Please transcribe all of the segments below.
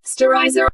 Sterilizer.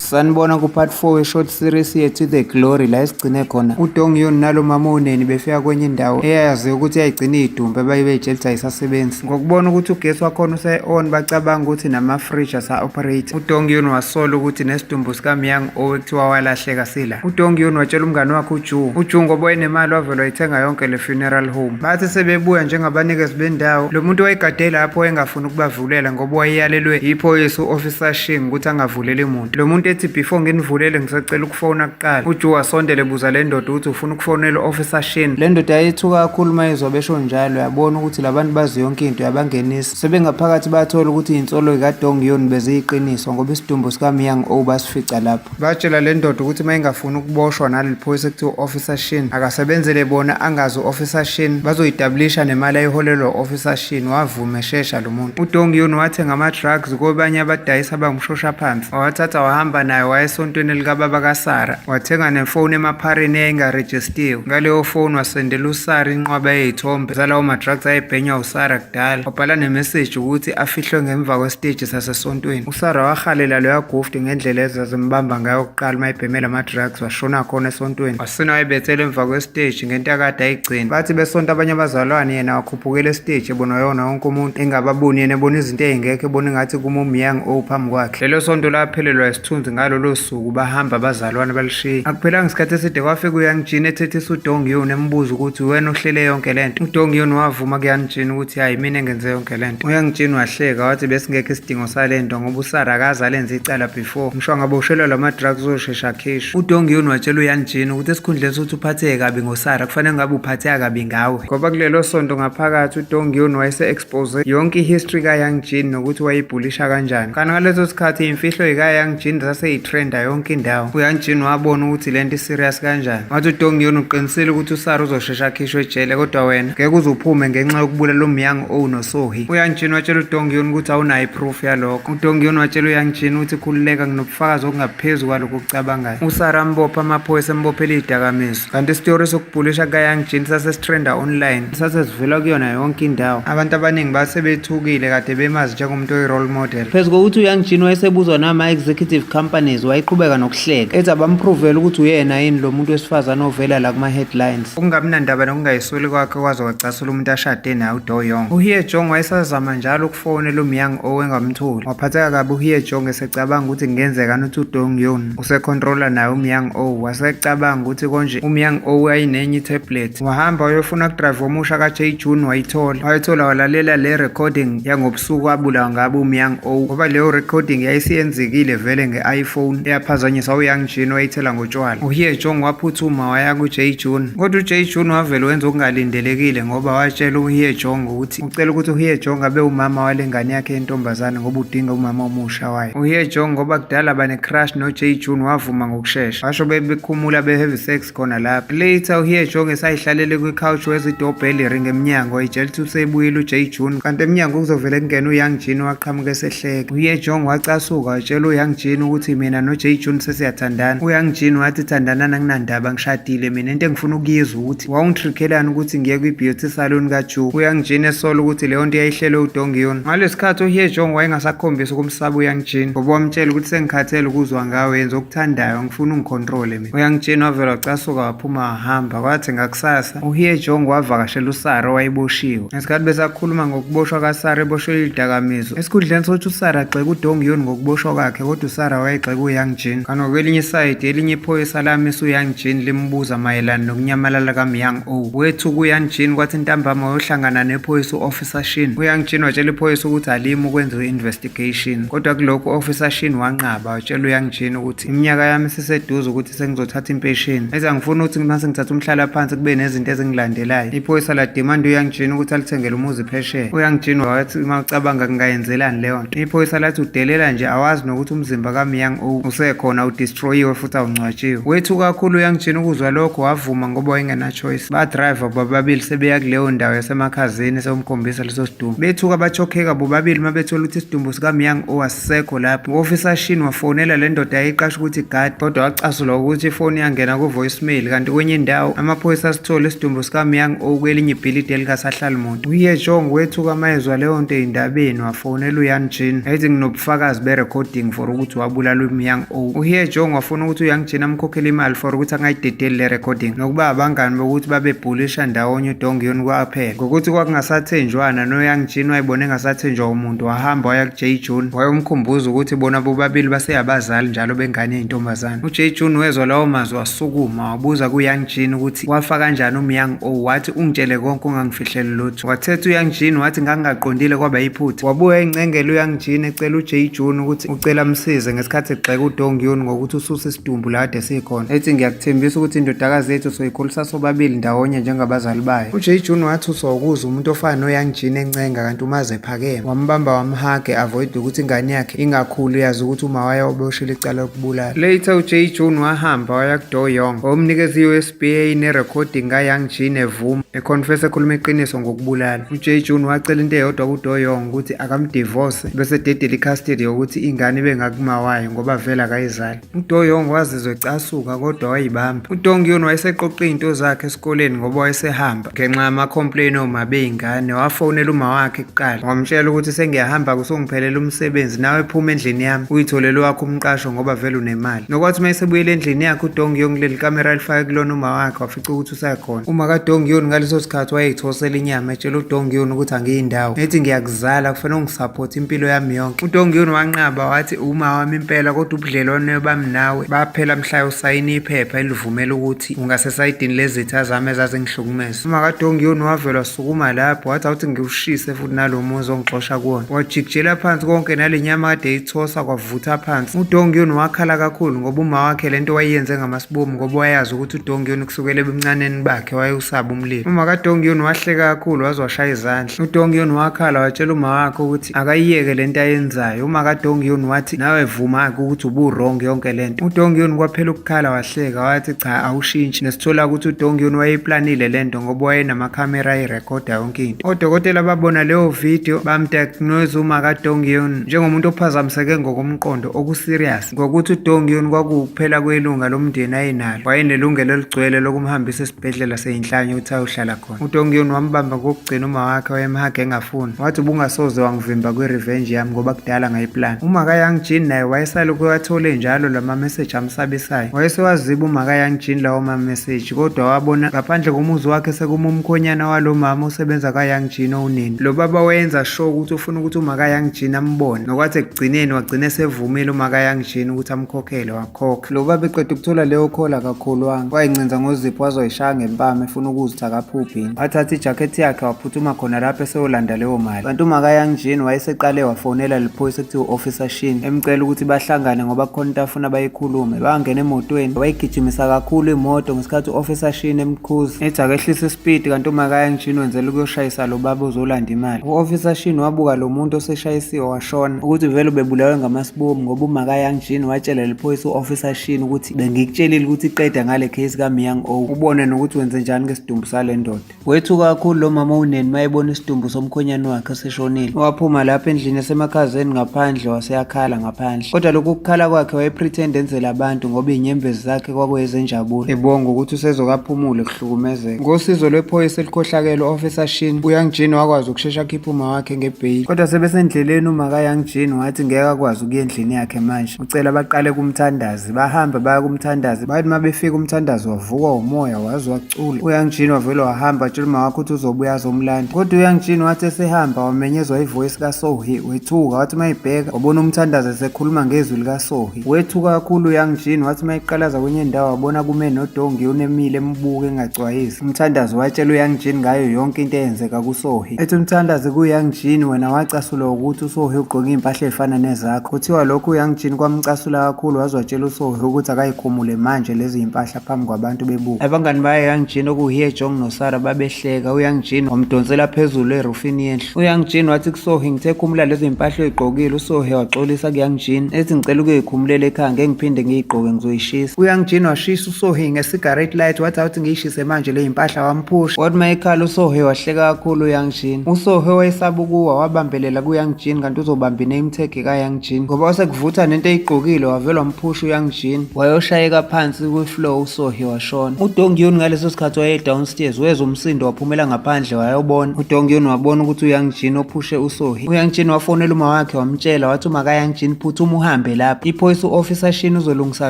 sanibona ku-part 4 we-short series yethu the glory la esigcine khona udongiyoni nalo mama uneni befika kwenye indawo eyayazi ukuthi yayigcina iyidumbe abayibe ijelisa ayisasebenzi ngokubona ukuthi ugesi wakhona use-on bacabanga ukuthi nama-fridge asa-operate udongiyoni wasola ukuthi nesidumbu sikamyang owekuthiwa walahleka sila UDongion watshela umngane wakhe uJu. UJu ngoba wayenemali wavele wayithenga yonke le funeral home. Bathi sebebuya njengabanikezi bendawo, lo muntu wayegade lapho wayengafuni ukubavulela ngoba wayeyalelwe yiphoyisa u-Officer Shing ukuthi angavuleli muntu. Lo muntu ethi before nginivulele ngisacela ukufona kuqala. UJu wasondela ebuza le ndoda ukuthi ufuna ukufonela u-Officer Shing. Le ndoda yayithuka kakhulu uma izwa besho njalo, yabona ukuthi labantu bazi yonke into yabangenisa. Sebengaphakathi bathola ukuthi izinsolo zikaDongion beziyiqiniso ngoba isidumbu sikaMyang O basifica lapho. Batshela le ndoda ukuthi uma ingafuni ukuboshwa naleli phoyisa ekuthiwa u-officer shin akasebenzele bona angazi u-officer shin bazoyitablisha nemali ayiholelwa u-officer shin wavuma eshesha lo muntu udong yun wathenga ama-drugs kobanye abadayisa abangumshosha phansi wawathatha wahamba nayo waya esontweni likababa kasara wathenga nefoni emaphareni eyayingarejistiwe ngaleyo foni wasendela usara inqwaba eyeyithombe zalawo ma-drugs ayebhenywa usara kudala wabhala nemeseji ukuthi afihlwe ngemva kwesiteji sasesontweni Sara wahalela loya gufti ngendlela ezazimbamba ngayo kuqala uma ebhemela ama-drugs washona khona esontweni wasina wayebethela emva kwesiteji ngento akade ayigcina bathi besonto abanye abazalwane yena wakhuphukela esiteji ebona yona wonke umuntu engababoni yena ebona izinto ey'ngekho ebona ingathi kumumyang o phambi kwakhe lelo sonto laphelelwa isithunzi ngalolo suku bahamba abazalwane balishiye akuphelanga isikhathi eside kwafika uyangijini ethethisa udong yona embuza ukuthi wena ohlele yonke le nto udong yona wavuma kuyangijini ukuthi hhayi mina engenze yonke lento uyangitshini wahleka wathi besingekho isidingo salento ngoba usara akaze alenze icala before ngisho ngabe ushelwa lama drugs uzoshesha akhishwe udongiyoni watshela uyangitshini ukuthi esikhundleni sokuthi uphatheke kabi ngosara kufanele ngabe uphatheka kabi ngawe ngoba kulelo sonto ngaphakathi udongiyoni wayese expose yonke ihistory ka yangjin nokuthi wayibhulisha kanjani kanti ngaleso sikhathi imfihlo yika yangjin saseyitrenda yonke indawo uyangjin wabona ukuthi lento iserious kanjani wathi udongiyoni uqinisile ukuthi usara uzoshe Shesha akhishwe ejele kodwa wena ngeke uzuphume ngenxa yokubulala umyang o nosohi. UYangjin watshela uDongyun ukuthi awunayo iproof yalokho. UDongyun watshela uYangjin ukuthi khululeka nginobufakazi okungaphezu kwalokho okucabangayo. USara ambopha amaphoyisa embophela izidakamizwa. Kanti isitori sokubhulisha kukaYangjin sase sitrenda online. Sase sivela kuyona yonke indawo. Abantu abaningi base bethukile kade bemazi njengomuntu oyi-role model. Phezu kokuthi uYangjin wayesebuzwa nama-executive companies, wayeqhubeka nokuhlala hleka ethi abampruvele ukuthi uyena yini lo muntu wesifazane ovela la kuma-headlines okungamnandaba nokungayisoli kwakhe kwaze wacasula umuntu ashade naye udoyong uhie jong wayesazama njalo ukufonela umyang owengamtholi waphatheka kabi uhie jong esecabanga ukuthi kungenzekani ukuthi udong yon usekhontrola naye umyang o wasecabanga ukuthi konje umyang o ayinenye itablet wahamba wayofuna kudrayiva omusha ka-j june wayithola wayithola walalela le recording yangob usuku abulawa ngabo umyang o ngoba leyo recording yayisiyenzekile vele nge-iphone eyaphazanyisa uyang jin wayithela ngotshwala uhiye jong waphuthuma waya kuj june kodwa uj june wavele wenza okungalindelekile ngoba watshela uhiye jong ukuthi ucela ukuthi uhiye jong abe umama wale ngane yakhe yentombazane ngoba udinga umama omusha wayo uhiye jong ngoba kudala banecrush noj june wavuma ngokushesha basho bebekhumula beheavy sex khona la later uhiye jonge sayihlalele kwi-couch wezidobheli ring emnyango itshela ukuthi usebuyile uj june kanti emnyango kuzovele kungena uyoung jin waqhamuka esehleka uhiye jong wacasuka watshela uyoung jin ukuthi mina noj june sesiyathandana uyoung jin wathi thandanani anginandaba ngishadile mina into engifuna ukuyizwa ukuthi wawungitrikhelani ukuthi ngiye kwi-beauty salon kajuke uyoung jin esola ukuthi leyo nto yayihlelwe udongiyon ngaleso sikhathi uhiye jong wayengasakhombisi ukumsaba uyoung jin ngoba wamtshela ukuthi sengikhathele ukuzwa ngawe yenza okuthandayo ngifuna ungikhontrole uyangitshena wavela wacasuka waphuma wahamba kwathi ngakusasa uhiye jong wavakashela usara owayeboshiwe ngesikhathi besakhuluma ngokuboshwa kasara eboshwe izidakamizwa esikhundleni sokuthi usara agxeke udong yoni ngokuboshwa kwakhe kodwa usara wayegxeka uyang jin kanti ngokwelinye isayidi elinye iphoyisa lamisa uyang jin limbuza mayelana nokunyamalala kamyang o wethu kuyang jin kwathi ntambama wayohlangana nephoyisa u-officer shin uyang jin watshela iphoyisa ukuthi alimi ukwenziwa i-investigation Gation kodwa kulokhu officer Shin wanqaba watshela uyangijina ukuthi iminyaka yami siseduze ukuthi sengizothatha impesheni eza ngifuna ukuthi mase ngithatha umhlala phansi kube nezinto ezingilandelayo iphoyisa la demand uyangijina ukuthi alithengele umuzi phesheya uyangijina wathi uma ucabanga kungayenzelani leyo nto iphoyisa lathi udelela nje awazi nokuthi umzimba kamyang o usekhona udestroyiwe futhi awungcwatshiwe wethu kakhulu uyangijina ukuzwa lokho wavuma ngoba wayengenachoice badriver bababili sebeya kuleyo ndawo yasemakhazeni sewumkhombisa leso sidumbu bethuka bachokheka bobabili uma bethola ukuthi isidumbu sikamyang owasekho lapho u-ofisa shin wafonela le ndoda yayiqasha ukuthi gadi kodwa wacasulwa ukuthi ifoni yangena ku-voicemail kanti kwenye indawo amaphoyisa asithole isidumbu sikamyang okwelinye ibhilidi elikasahlali muntu uyejong wethuka mayezwa leyo nto ey'ndabeni wafonela uyan jin ayithi nginobufakazi be-recording for ukuthi wabulalwa umyang uhiye jong wafuna ukuthi uyangijina amkhokhele imali for ukuthi angayidedeli le recording nokuba abangani bokuthi babebhulisha ndawonye udongiyoni kwaphela ngokuthi kwakungasathenjwana noyangijini wayibona engasathenjwa umuntu wahamba waya ku-j june wayomkhumbuza ukuthi bona bobabili baseyabazali njalo bengane yintombazane u-j june wezwa lawo mazwi wasukuma wabuza kuyangijini ukuthi wafa kanjani umyang o wathi ungitshele konke ungangifihleli lutho Wathetha uYangjin wathi ngangingaqondile kwaba yiphutha. Wabuya encengela uYangjin ecela uJay Jun ukuthi ucela amsize ngesikhathi egxeka uDong Yun ngokuthi ususa isidumbu la kade sikhona. Ethi ngiyakuthembisa ukuthi indodakazi yethu soyikhulisa sobabili ndawonye njengabazali bayo. UJay Jun wathuswa ukuza umuntu ofana noYangjin encenga kanti umaze ephakeme. Wambamba wamhage avoid ukuthi ingane yakhe ingakhulu yazi ukuthi umawayo oboshile icala lokubulala. Later uJay Jun wahamba waya kuDo Young wamnikeza i-US BA nerekhodi ngaYoung G nevuma econfess ekhuluma iqiniso ngokubulala. UJ June wacela into eyodwa kuDoyong ukuthi akamdivorce bese dedela icustody yokuthi ingane ibe ngakumawayo ngoba vele akayizali. UDoyong wazizwa ecasuka kodwa wayibamba. UDongyun wayeseqoqa izinto zakhe esikoleni ngoba wayesehamba. ngenxa yama-complain oma bey'ngane wafonela uma wakhe kuqala wamtshela ukuthi sengiyahamba kusongiphelela umsebenzi nawe phuma endlini yami uyitholele wakho umqasho ngoba vele unemali nokwathi uma esebuyele endlini yakhe udongi yonke leli kamera lifake kulona uma wakhe wafica ukuthi usakhona uma kadongi yoni ngaleso sikhathi wayeyithosela inyama etshela udongi yoni ukuthi angiyindawo ethi ngiyakuzala kufanele ungisaphothe impilo yami yonke udongi yoni wanqaba wathi uma wami impela kodwa ubudlelwane bami nawe baphela mhlayo usayina iphepha elivumela ukuthi ngasesayidini lezitha zami ezazingihlukumeza umakadongiyoni wavelwa sukuma lapho wathi awuthi ngiwushise futhi nalo muzi ongixosha kuwona wajikijela phansi konke nale nyama kade eyithosa kwavutha phansi udongiyoni wakhala kakhulu ngoba uma wakhe le nto wayiyenze ngamasibomu ngoba wayazi ukuthi udongiyoni kusukela ebuncaneni bakhe wayewusaba umlilo umakadongiyoni wahleka kakhulu waze washaya izandla udongiyoni wakhala watshela uma wakhe ukuthi akayiyeke lento ayenzayo uma kadongiyoni wathi nawe vuma-ke ukuthi ubu-wrong yonke lento udongiyoni kwaphela ukukhala wahleka wathi cha awushintshi nesithola ukuthi udongiyoni wayeyiplanile lento ngoba wayenamakhamera ayirekhoda yonke into odokotela babona leyo video bamdiagnose uma kadongiyoni njengomuntu ophazamiseke ngokomqondo okuserious ngokuthi udongiyoni kwakuwukuphela kwelunga lomndeni ayenalo wayenelungelo eligcwele lokumhambisa esibhedlela seyinhlanye ukuthi ayohlala khona utongion wambamba ngokugcina uma wakhe wayemhage engafuni wathi ubungasoze wangivimba kwi-revenge yami ngoba kudala ngayiplan umaka young jean naye wayesale kuwathole njalo la mameseji amsabisayo wayesewaziba umaka young jean lawo mameseji kodwa wabona ngaphandle komuzi wakhe sekuma umkhonyana walo mama osebenza kayoung jean owunini lo baba wayenza sure ukuthi ufuna ukuthi umaka young jean ambone nokwathi ekugcineni wagcina esevumile umaka young jean ukuthi amkhokhele Khokhe lo baba eqeda ukuthola leyo khola akakholwanga wayincinza ngozipho wazoyishaya ngempama efuna ukuzitha kaphubhini wathatha ijakhethi yakhe waphuthuma khona lapho eseyolanda leyo mali kanti umakayang jean wayeseqale wafonela liphoyisa ekuthiwa u-officer shin emcela ukuthi bahlangane ngoba kukhona into afuna bayikhulume bangena emotweni wayigijimisa kakhulu imoto ngesikhathi u-officer shin emkhuza ethi akehlise isipidi kanti umakayang jean wenzela ukuyoshayisa lo baba uzolanda imali u-officer shin wabuka lo muntu oseshayisiwe Shona ukuthi vele ubebulawe ngamasibomu ngoba umaka Young Jean watshela leli phoyisa u-officer Shin ukuthi bengikutshelile ukuthi iqeda ngale case kaMyang O ubone nokuthi wenze njani ngesidumbu sale ndoda wethuka kakhulu lo mama uneni mayebona isidumbu somkhonyane wakhe seshonile waphuma lapha endlini esemakhazeni ngaphandle waseyakhala ngaphandle kodwa lokhu kukhala kwakhe wayepretend enzela abantu ngoba inyembezi zakhe kwakuyezenjabulo ebonga ukuthi usezokaphumule hlukumezeka ngosizo lwephoyisa elikhohlakele u-officer shin uyang jean wakwazi ukushesha akhipha uma wakhe ngebheyili kodwa sebesendleleni uma kayang jean wathi ngeke akwazi ukuya endlini yakhe manje ucela baqale kumthandazi bahambe baya kumthandazi bathi uma befika umthandazi wavukwa umoya waze wacula uyang jean wavele wahamba atshela uma wakhe ukuthi uzobuya azomlanda kodwa uyang jean wathi esehamba wamenyezwa ivoyisi kasohi wethuka wathi uma ibheka wabona umthandazi esekhuluma ngezwi likasohi Wethuka kakhulu uYoung Jean wathi uma eqalaza kwenye indawo wabona kume noDongi unemile embuke engacwayisi. Umthandazi watshela uYoung Jean ngayo yonke into eyenzeka kuSohi. Ethi umthandazi kuYoung Jean wena wacasulwa ukuthi uSohi ugqoke impahla ezifana nezakho. Kuthiwa lokhu uYoung Jean kwamcasula kakhulu waze watshela uSohi ukuthi akayikhumule manje lezi impahla phambi kwabantu bebuka abangani baye young jean okuhiye jong nosara babehleka uyoung jean wamdonsela phezulu erufini yendlu uyoung jean wathi kusohi ngithe khumula lezo impahla oyigqokile usohi waxolisa kuyoung jean ethi ngicela ukuyikhumulela ekhaya ngeke ngiphinde ngiyigqoke ngizoyishisa uyoung jean washisa usohi ngesigarate light wathi awuthi ngiyishise manje le impahla wamphusha wathi uma ekhala usohi wahleka kakhulu uyoung jean usohi wayesaba ukuwa wabambelela kuyoung jean kanti uzobambine imthekhe kaYoung Jean ngoba wasekuvutha nento eyigqokile wavelwa mphusha uYoung Jean wayoshayeka phansi kwi-flow uSohi washona. UDongyun ngaleso sikhathi waye-downstairs wezwa umsindo waphumela ngaphandle wayobona. UDongyun wabona ukuthi uYoung Jean ophushe uSohi. UYoung Jean wafonela uma wakhe wamtshela wathi uma kaYoung Jean phuthuma uhambe lapha. Iphoyisa u-officer Shin uzolungisa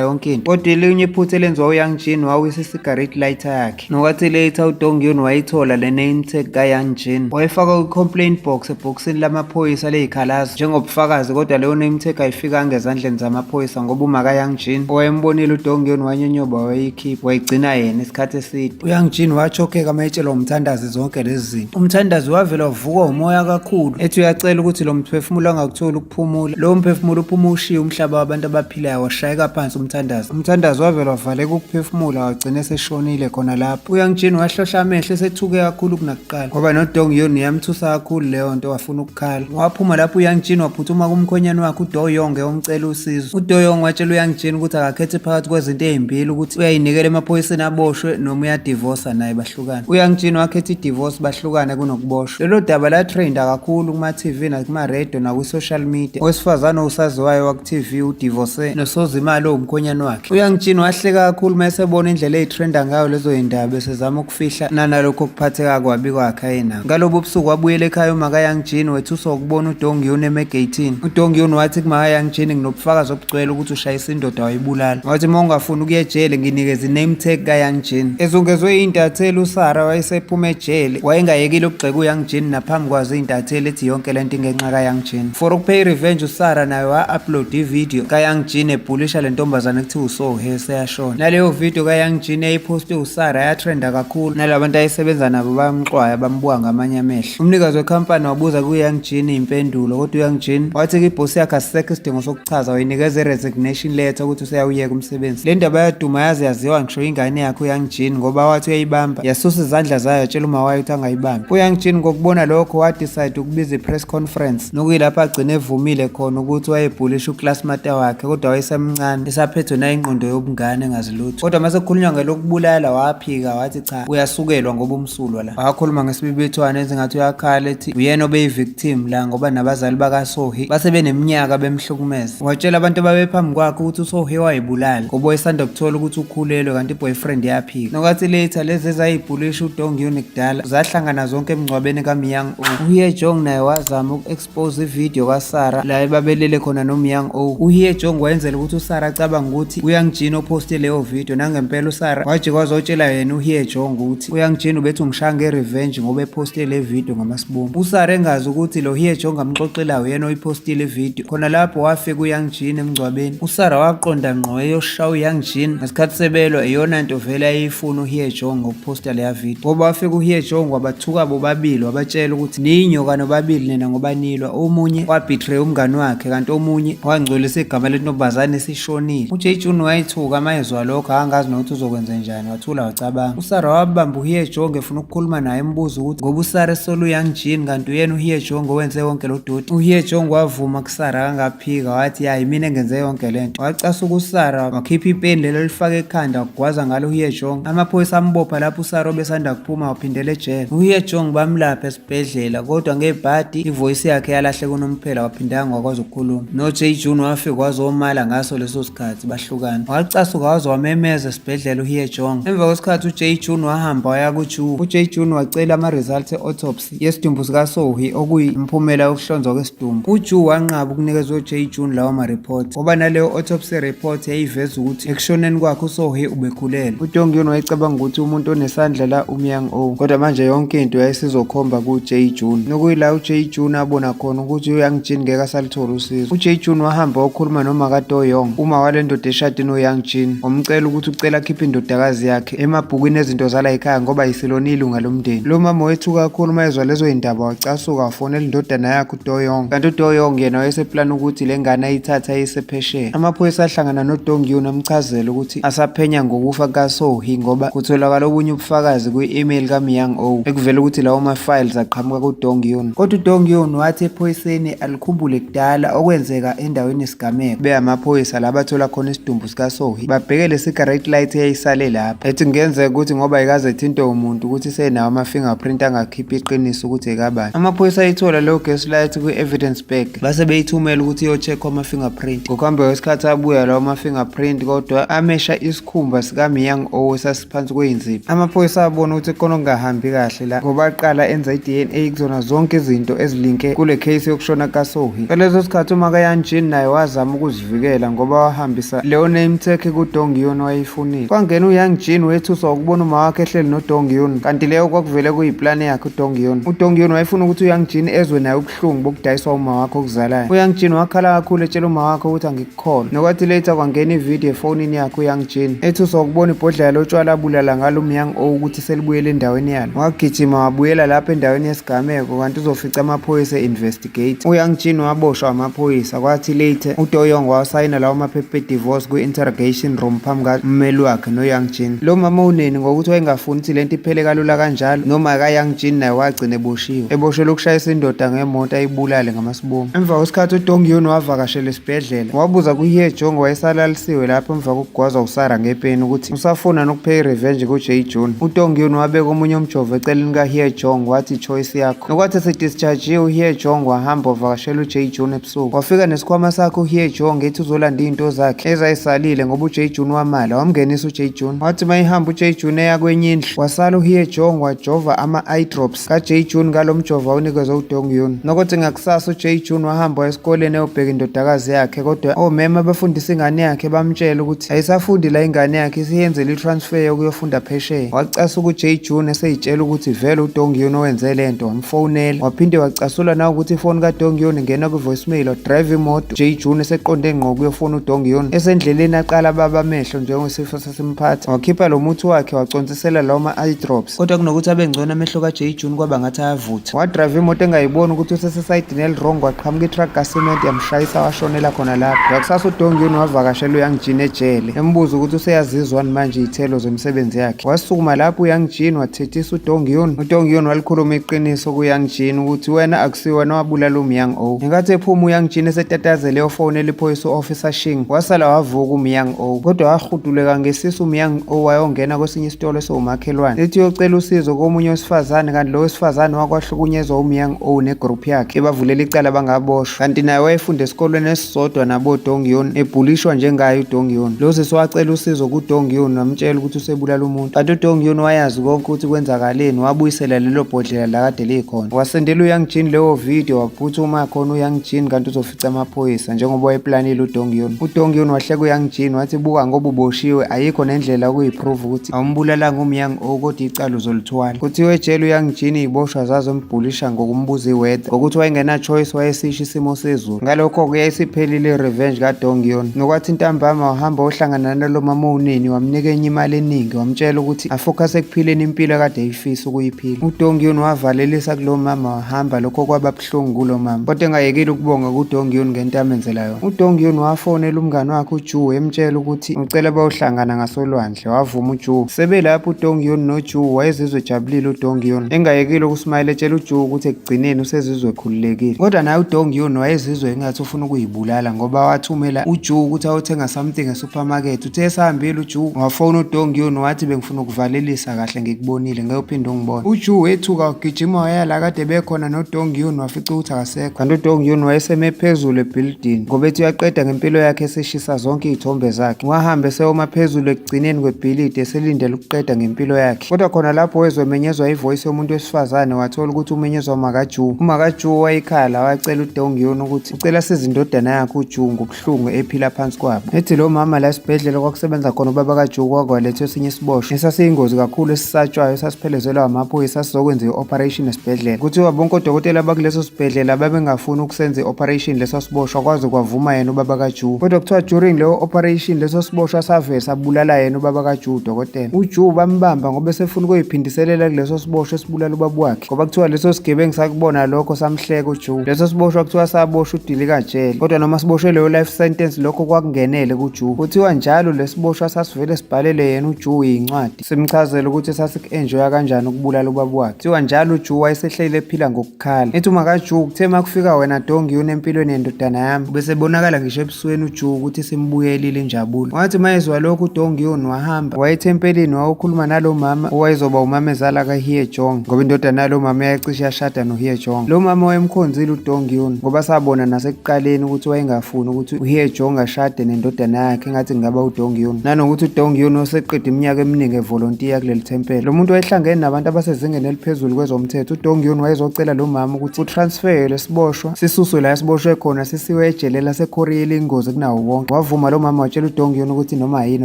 yonke into. Kodwa elinye iphutha elenziwa uYoung Jean wawisa isigareti lighter yakhe. Nokwathi later uDongyun wayithola le name tag kaYang Jin wayifaka kwi-complaint box ebhokisini lamaphoyisa leyikhalazo njengobufakazi kodwa leyo name tag ayifikanga ezandleni zamaphoyisa ngoba uma kaYang Jin owayembonile uDongyun wanyonyoba wayeyikhipha wayigcina yena isikhathi eside. UYang Jin wachokheka uma etshelwa umthandazi zonke lezi zinto. Umthandazi wavela wavukwa umoya kakhulu ethi uyacela ukuthi lo mphefumulo angakutholi ukuphumula. Lowo mphefumulo uphuma ushiye umhlaba wabantu abaphila Phila washayeka phansi umthandazo. Umthandazo wavele wavaleka ukuphefumula wagcina eseshonile khona lapho. Uyangitshini wahlohla amehlo esethuke kakhulu kunakuqala ngoba noDong Yun yamthusa kakhulu leyo nto wafuna ukukhala. Waphuma lapho uyangitshini waphuthuma kumkhonyane wakhe uDo Yong eyomcela usizo. UDo Yong watshela uyangitshini ukuthi akakhethe phakathi kwezinto ezimbili ukuthi uyayinikela emaphoyiseni aboshwe noma uyadivosa naye bahlukane uyangitshini wakhetha idivorce bahlukane kunokuboshwa lelo daba latrenda kakhulu kuma-tv nakuma-radio nakwi-social media owesifazane owusaziwayo waku-tv udivorce nosozimali owumkhonyane wakhe uyangitshini wahleka kakhulu uma esebona indlela eyitrenda ngayo lezo yindaba esezama ukufihla nanalokho kuphatheka kwabi kwakhe ayenako ngalobo busuku wabuyela ekhaya umakayangitshini wethuswa ukubona udongiyuni emegeyithini udongiyuni wathi kumakayangitshini nginobufakazi obugcwele ukuthi ushayisa indoda wayibulala wathi uma ungafuni ukuya ejele nginikeza i-name tag kayoung jean ezungezwe iy'ntatheli usara wayesephuma ejele wayengayekile ukugxeka uyoung jean naphambi kwazo iy'ntatheli ethi yonke le nto ingenxa kayoung jean for ukupay revenge usara naye wa-upload ividiyo kayoung jean ebhulisha le ntombazane ekuthiwa usohe seyashona naleyo vidiyo kayoung jean eyiphoste usara yatrenda kakhulu nala bantu ayesebenza nabo bayamxwaya bambuka ngamanye amehlo umnikazi wekhampani wabuza kuyoung jean iy'mpendulo kodwa uyoung jean wathi kibhosi yakhe asisekho isidingo soku Chaza uyinikeza i-resignation letter ukuthi useyawuyeka umsebenzi. Le ndaba yaduma yaze yaziwa ngisho ingane yakhe uYoung Jean ngoba wathi uyayibamba yasusa izandla zayo yatshela uma wayo ukuthi angayibambi. UYoung Jean ngokubona lokho wadecide ukubiza i-press conference nokuyilapho agcine evumile khona ukuthi wayebhulisha uclassmate wakhe kodwa wayesemncane esaphethwe nayingqondo yobungane engazi lutho. Kodwa uma sekukhulunywa ngelokubulala waphika wathi cha uyasukelwa ngoba umsulwa la wakhuluma ngesibibithwane ezingathi uyakhala ethi uyena obeyi-victim la ngoba nabazali bakasohi base beneminyaka bemhlukumeza watshela abantu ababephambi kwakhe ukuthi usohi wayibulala ngoba wayesanda kuthola ukuthi ukhulelwe kanti i-boyfriend yaphika nokathi later lezi ezayibhulisha udongyuni kudala zahlangana zonke emngcwabeni kamiyang uye jong naye wazama Pose ivideo kaSara la ebabelele khona nomyang o uhiye jong wayenzela ukuthi usara acabanga ukuthi uyangijina ophoste leyo video nangempela usara waje kwazotshela yena uhiye jong ukuthi uyangijina ubethi ungishaya nge-revenge ngoba ephoste le video ngamasibumbu usara engazi ukuthi lo hiye jong amxoxela uyena oyiphostile ivideo khona lapho wafika uyangijina emngcwabeni usara waqonda ngqo eyoshaya uyangijina ngesikhathi sebelwa iyona nto vele ayeyifuna uhiye jong posta leya video ngoba wafika uHie Jong wabathuka bobabili wabatshela ukuthi ninyoka nobabili nina ngoba nilwa omunye wabetray umngani wakhe kanti omunye wangcolisa igama lentombazane esishonile uJay Jun wayithuka amayezwa lokho angazi nokuthi uzokwenza njani wathula wacabanga uSara wabamba uHie Jong efuna ukukhuluma naye embuza ukuthi ngoba uSara esolu Yang Jin kanti uyena uHie Jong owenze wonke lo doti uHie Jong wavuma Sara akangaphika wathi ya yimina engenze yonke le nto wacasa ukusara wakhipha ipeni lelo lifake ekhanda wagwaza ngalo uhiye jong amaphoyisa ambopha lapho usara obesanda kuphuma waphindela ejele uhiye jong bamlapha esibhedlela kodwa ngebhadi ivoyisi yakhe yalahleka unomphela waphindanga wakwazi ukukhuluma noJ June wafika wazomala ngaso leso sikhathi bahlukana wacasuka waze wamemeza esibhedlela uhiye jong emva kwesikhathi uJ June wahamba waya kuJu uJ June wacela ama-results e-autopsy yesidumbu sikaSohi okuyimphumela yokuhlonzwa kwesidumbu. UJu wanqaba ukunikeza uJ June lawa mareport ngoba naleyo autopsy report yayiveza ukuthi ekushoneni kwakhe uSohi ubekhulelwe. UDongyun wayecabanga ukuthi umuntu onesandla la uMyang O kodwa manje yonke into yayisizokhomba kuJ June nokuyila uJ June abona khona ukuthi uYang Jin ngeke asaluthola usizo. UJ June wahamba wakhuluma nomaka Toyong uma walendoda eshade noYang Jin wamcela ukuthi ucela akhiphe indodakazi yakhe. emabhukwini ezinto zala yikhaya ngoba yisilona ilunga lomndeni lo mama wethu kakhulu uma ezwa lezo yindaba wacasuka wafonela indodana yakhe udoyong kanti udoyong yena wayeseplana ukuthi le ngane ayithatha ayisephesheya amaphoyisa ahlangana nodongyun amchazela ukuthi asaphenya ngokufa kasohi ngoba kutholakala obunye ubufakazi kwi-email kamyang o ekuvela ukuthi lawo ma-files aqhamuka kudongyun kodwa udongyun wathi ephoyiseni alikhumbule kudala okwenzeka endaweni yesigameko beyamaphoyisa la bathola khona isidumbu sikasohi babheke lesigaret light eyayisale lapha ethi kungenzeka ukuthi ngoba ikaze ethintwe umuntu ukuthi senawo ama-fingerprint angakhipha iqiniso ukuthi ekabani amaphoyisa ayithola leyo gas light kwi-evidence bag base beyithumela ukuthi iyocheckwa ama-fingerprint ngokuhamba kwesikhathi abuya lawo ma-fingerprint kodwa amesha isikhumba sikamyang owe phansi kweyinzipho amaphoyisa abona ukuthi kona kungahambi kahle la ngoba aqala enza i-dna kuzona zonke izinto ezilinke kule case yokushona kasohi ngaleso sikhathi umakayanjini naye wazama ukuzivikela ngoba wahambisa leyo name tag kudongiyoni wayeyifunile kwangena uyangjini wethuswa ukubona uma wakhe ehleli nodongiyoni kanti leyo kwakuvele kuyiplani yakhe udongiyoni udongiyoni wayefuna ukuthi uyangjini ezwe naye ubuhlungu bokudayiswa uma wakhe okuzalayo uyangjini wakhala kakhulu etshela uma wakhe ukuthi khona nokwathi later kwangena ividiyo efonini yakhe uyangijini ethi uzokubona ibhodlela lotshwala abulala ngalo umyang o ukuthi selibuyele endaweni yalo wagijima wabuyela lapho endaweni yesigameko kanti uzofica amaphoyisa e-investigate uyangijini waboshwa amaphoyisa kwathi later udoyong wawasayina lawo maphepha edivorce kwi-interrogation room phambi kammeli wakhe noyangjin lo mama uneni ngokuthi wayengafuni ukuthi le nto iphele kalula kanjalo noma kayangjin naye wagcina eboshiwe eboshelwe ukushayisa indoda ngemoto ayibulale Boom. Emva kwesikhathi uDongyun wavakashela esibhedlela wabuza kuHye Jong wayesalalisiwe lapho emva kokugwazwa uSara ngepeni ukuthi usafuna nokupheya irevenge kuJay Jun. UDongyun wabeka omunye umjovo eceleni kaHye Jong wathi choice yakho. Nokwathi esedischargiwe uHye Jong wahamba wavakashela uJay Jun ebusuku. Wafika nesikhwama sakhe uHye Jong ethi uzolanda izinto zakhe ezayisalile ngoba uJay Jun wamala wamngenisa uJay Jun. Wathi mayihamba uJay Jun eya kwenye indlu wasala uHye Jong wajova ama-eye drops kaJay June ngalo mjovo awunikezwe uDong Yun. Nokuthi ngakusasa uJay June wahamba esikoleni eyobheka indodakazi yakhe kodwa omema abafundisa ingane yakhe bamtshela ukuthi ayisafundi la ingane yakhe isiyenzele i-transfer yokuyofunda phesheya. Wacasuka uJay June eseyitshela ukuthi vele uDong Yun owenze le nto wamfonela. Waphinde wacasula nawe ukuthi ifoni kaDong Yun ingena kwi-voicemail wadrive imoto. Jay June eseqonde ngqo kuyofona uDong Yun esendleleni aqala baba amehlo njengesifo simphatha wakhipha lo muthi wakhe waconsisela lawo ma-eye drops kodwa kunokuthi abe ngcono amehlo ka-j june kwaba ngathi ayavutha wadrayiva imoto engayiboni ukuthi usesesayidini elirong waqhamuka itruck kasiment yamshayisa washonela khona lapho ngakusasa udongyuni wavakashela uyoung jean ejele embuza ukuthi useyazizwani manje iy'thelo zemisebenzi yakhe wasukuma lapho uyoung jean wathethisa udongyuni udongyuni walikhuluma iqiniso kuyoung jean ukuthi wena akusiwena wabulala umyoung o ngenkathi ephuma uyoung jean esetatazele eyofowunela iphoyisa u-officer shing wasala wavuka umyoung Oh kodwa wahuduleka ngesisu umyang owayongena kwesinye isitolo esiwumakhelwane ethi uyocela usizo komunye wesifazane kanti lo wesifazane wakwahlukunyezwa umyang owu negroup yakhe ebavulela icala bangaboshwa kanti naye wayefunda esikolweni esisodwa nabodongyun ebhulishwa njengaye udongyun lo sisi wacela usizo kudongyun wamtshela ukuthi usebulala umuntu kanti udongyun wayazi konke ukuthi kwenzakaleni wabuyisela lelo bhodlela lakade likhona wasendela uyang jin leyo video waphuthuma khona uyang jin kanti amaphoyisa njengoba wayeplanile udongiyon udongiyon wahleka uyang jean wathi buka ngoba uboshiwe ayikho nendlela okuyiprove ukuthi awumbulalanga umyang o kodwa icala uzolithwala kuthiwe etshela uyang jean iyiboshwa zazombhulisha ngokumbuza iweather ngokuthi wayengenachoice wayesisho isimo sezulu ngalokho-ke yayisiphelile irevenge kadongiyon nokwathi ntambama wahamba ohlangana nalo mama unini wamnika enye imali eningi wamtshela ukuthi afokhase ekuphileni impilo kade eyifisa ukuyiphila udongiyon wavalelisa kulo mama wahamba lokho kwaba ubuhlungu kulo mama kodwa engayekile ukubonga kudongyun ngento amenzela yona udongyun wafonela umngane wakhe uju emtshela ukuthi ucela bayohlangana ngasolwandle wavuma uju sebelapho udongyun noju wayezizwe ejabulile udongyun engayekile ukusmayela etshela uju ukuthi ekugcineni usezizwe ekhululekile kodwa naye udongyun wayezizwe engathi ufuna ukuyibulala ngoba wathumela uju ukuthi ayothenga something esupermarket uthe esahambile uju wafona udongyun wathi bengifuna ukuvalelisa kahle ngikubonile ngeke uphinde ungibone uju wethuka ugijima waya la kade bekhona nodong yun wafica ukuthi akasekho kanti udong yun wayeseme phezulu ebhilidini ngoba ethi uyaqeda ngempilo yakhe eseshisa zonke iy'thombe zakhe wahambe sewoma phezulu ekugcineni kwebhilidi eselindele ukuqeda ngempilo yakhe kodwa khona lapho wezwe emenyezwa ivoyisi yomuntu wesifazane wathola ukuthi umenyezwa umakajuwu umakajuwu wayekhala wacela udong yun ukuthi ucela size indodana yakhe ujuwu ubuhlungu ephila phansi kwabo ethi lo mama la esibhedlela kwakusebenza khona ubaba kajuku wakwalethwa esinye isiboshwa esasiyingozi kakhulu esisatshwayo esasiphelezelwa amaphoyisa sizokwenza i-operation esibhedlela kuthiwa bonke odokotela bakuleso sibhedlela babengafuni ukusenza i-operation leso siboshwa kwaze kwavuma yena ubaba kajuku kodwa kuthiwa during leyo operation leso siboshwa savele sabulala yena ubaba kajuku udokotela ujuku bambamba ngoba esefuna ukuyiphindiselela kuleso siboshwa ukubulala ubaba wakhe ngoba kuthiwa leso sigebengu sakubona lokho samhleka uJude leso siboshwa kuthiwa saboshwa udilika jele kodwa noma siboshwe leyo life sentence lokho kwakungenele kuJude kuthiwa njalo lesiboshwa sasivele sibhalele yena uJude yincwadi simchazele ukuthi sasikuenjoya kanjani ukubulala ubaba wakhe kuthiwa njalo uJude wayesehleli ephila ngokukhala ethi umakaJude kuthe makufika wena dongi yona empilweni yendodana yami bese bonakala ngisho ebusweni uJuwu ukuthi simbuyelile injabulo. Wathi mayezwa lokho uDonghyun wahamba waya ethempelini wayokhuluma nalo mama owayezoba umamezala kaHye Jong ngoba indodana yalo mama yayicishe yashada noHye Jong. Lo mama wayemkhonzile uDonghyun ngoba sabona nasekuqaleni ukuthi wayengafuni ukuthi uHye Jong ashade nendodana yakhe engathi kungaba uDonghyun. Nanokuthi uDonghyun oseqede iminyaka eminingi evolontiya kuleli thempela. Lo muntu wayehlangene nabantu abasezingeni eliphezulu kwezomthetho. UDonghyun wayezocela lo mama ukuthi utransferwe siboshwa sisuswe la siboshwe khona sisiwe ejele laseKorea elingozi kunawo wonke wavuma lo mama watshela uDongyon ukuthi noma yini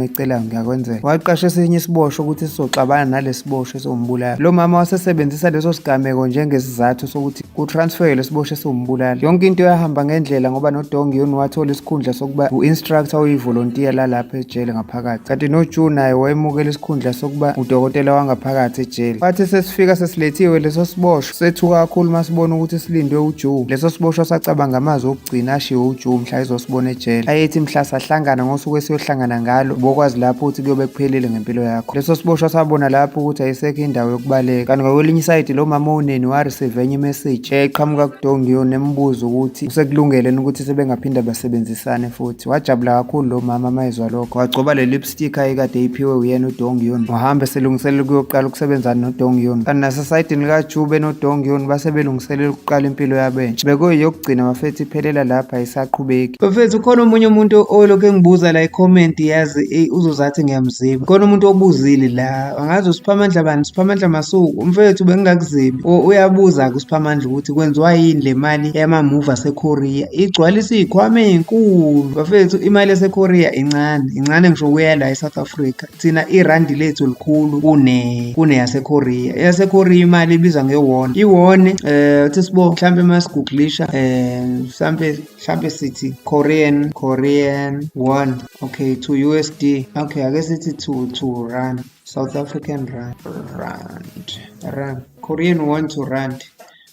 oyicelayo ngiyakwenzela waqasha esinye isiboshwa ukuthi sizoxabana nalesiboshwa esiwumbulala lo mama wasesebenzisa leso sigameko njengesizathu sokuthi kutransferwe lesiboshwa esiwumbulala yonke into yahamba ngendlela ngoba noDongyon wathola isikhundla sokuba u-instructor oyivolontiya lalapha ejele ngaphakathi kanti noJu naye wayemukela isikhundla sokuba udokotela wangaphakathi ejele wathi sesifika sesilethiwe leso siboshwa Sethuka kakhulu masibona ukuthi silindwe uJoe. Leso siboshwa sacabanga amazwi okugcina ashiwo uJoe mhla ezosibona ejele. Ayethi mhla sahlangana ngosuku esiyohlangana ngalo, ubokwazi lapho ukuthi kuyobe kuphelile ngempilo yakho. Leso siboshwa sabona lapho ukuthi ayisekho indawo yokubaleka. Kanti ngakwelinye isayidi lo mama oneni wareceive enye imessage eyayiqhamuka kuDongio nembuza ukuthi usekulungele ukuthi sebengaphinda basebenzisane futhi. Wajabula kakhulu lo mama mayezwa lokho. Wagcoba leli sticker ekade iphiwe uyena uDong Yun wahambe selungiselela ukuyoqala ukusebenza noDong Yun kanti nasesayidini likaJube noDong Yun base belungiselela ukuqala impilo yabo entsha bekuyeyokugcina bafethu iphelela lapha ayisaqhubeki bafethu ukhona omunye umuntu olokhu engibuza la icomment yazi uzozathi ngiyamziba khona umuntu obuzile la angazi usiphamandla bani siphamandla masuku umfethu bengingakuzibi uyabuza kusiphamandla ukuthi kwenziwa yini le mali yamamuvi asekorea igcwalisa iy'khwama ey'nkulu bafethu imali yasekorea incane incane ngisho kuya la e-south africa thina irandi lethu likhulu kune kuneyasekorea eyasekorea imali ibizwa ngewone iwone um uthi sibo mhlawumpe uma siguglisha um mhlawumpe mhlampe sithi korean korean one okay to usd okay ake sithi to to run south african run rand run korean one to rand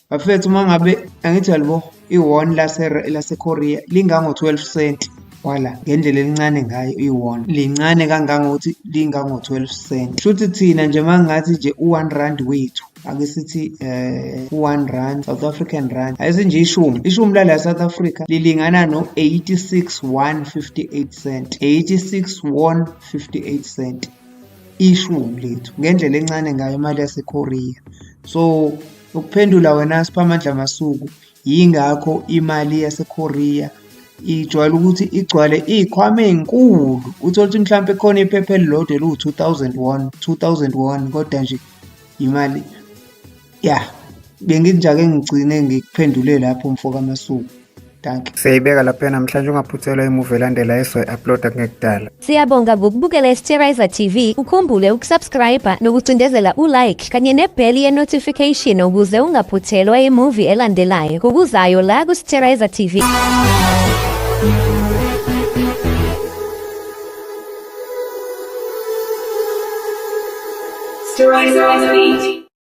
bafethu uma ngabe angithi alibo i-won lasekorea lingango-12 cent wala ngendlela elincane ngayo i-won lincane kangangokuthi lingango-12 cent shuthi thina nje uma ngathi nje u-one rand wethu ake sithi eh one rand South African rand ayisinje ishumi ishumi lala South Africa lilingana no 86.158 cent 86.158 cent ishumi lethu ngendlela encane ngayo imali yaseKorea so ukuphendula wena siphamandla masuku Yingakho imali yaseKorea ijwayele ukuthi igcwale iy'khwama ey'nkulu uthole ukuthi mhlawumpe khona iphepha elilodwa eliwu-two thousand one two thousand one kodwa nje imali ya bengithi njake ngigcine ngikuphendule lapho mfo kamasuku danke siyayibeka lapha namhlanje ungaphuthelwa imuvi elandela esoyi-uploada kungekudala Siyabonga ngokubukela iSterizer TV, ukhumbule ukusubscribe nokucindezela ulike kanye nebheli ye-notification ukuze ungaphuthelwa imuvi elandelayo ngokuzayo la kuSterizer TV. Sterizer TV.